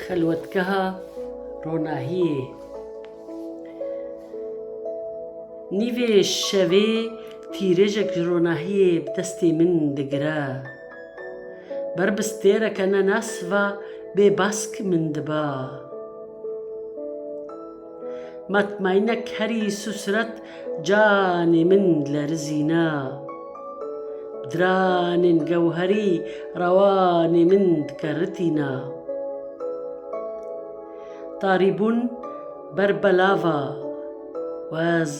Xelwetgeha ronahiyê Nîvê şevê tîrêjek ji ronahiyê bi destê min digire. Ber bi stêreke ne nas va bê bask min diba. Matmaynek herî susret canê min lerizîna. Diranên gewherî rewanê min dike ritîna. Tarîbûn ber belava wez.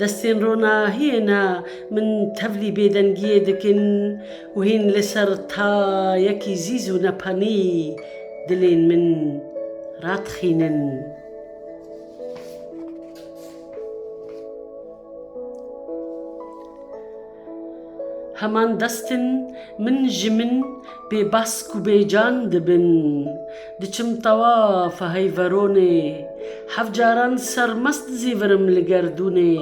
Destên ronahiyê ne min tevlî bêdengiyê dikin û hîn li ser tayekî zîz û nepanî dilên min radixînin. Heman destin min ji min bê bask û bê can dibin. Diçim tawaf hey veronê. Heft caran sermest zî virim li gerdûnê.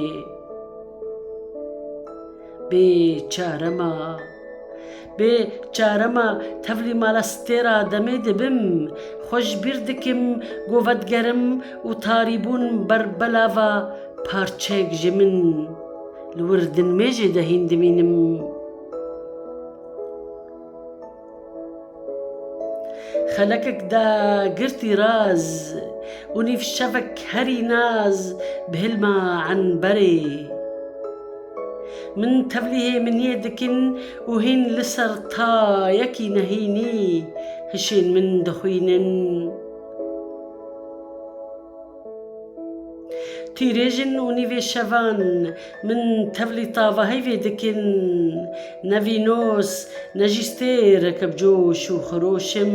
Bê çare ma. Bê çare ma tevlî mala stê ra demê dibim. Xwe ji bîr dikim ku vedigerim û tarîbûn ber belava parçeyek ji min. Li wir dinmêjê de hîn dimînim. Xelekek da girtî raz û nîv şevek herî naz bi hilma enberê. Min tevlî hê miniyê dikin û hîn li ser tayekî nehînî hişên min dixwînin. Tîrêjin û nîvê şevan min tevlî tavahî vê dikin, ne vînos ne jî stêreke bi coş û xiroş im.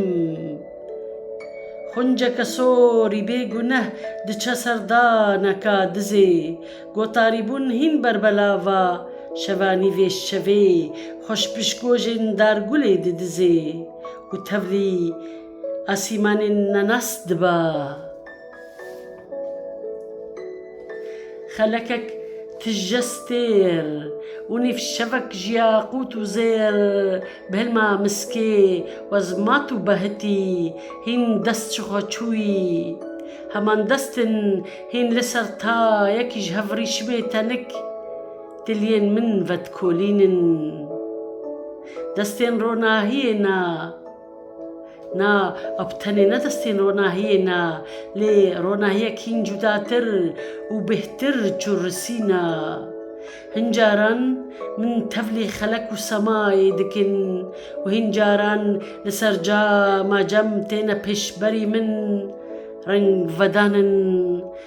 Xunceke sorî bê guneh diçe ser daneka dizê, gotarîbûn hîn ber belava şeva nîvê şevê xweş pişgojên dargulê didizê û tevlî Asîmanên nenas diba. Xelekek tije stêr û nîv şevek jiya qût û zêr bi hilma miskê wezmat û behitî hîn dest ji xwe çûyî. Heman destên hîn li ser ta yekî ji hev rîşimê tenik diliyên min vedikolînin. Destên ronahiyê na. Na ew bi tenê ne destên ronahiyê ne, lê ronahiyek hîn cudatir û bêhtir çûrrisî ne. Hin caran min tevlî xelek û semayê dikin û hîn caran li ser cama cem têne pêşberî min, reng vedanin.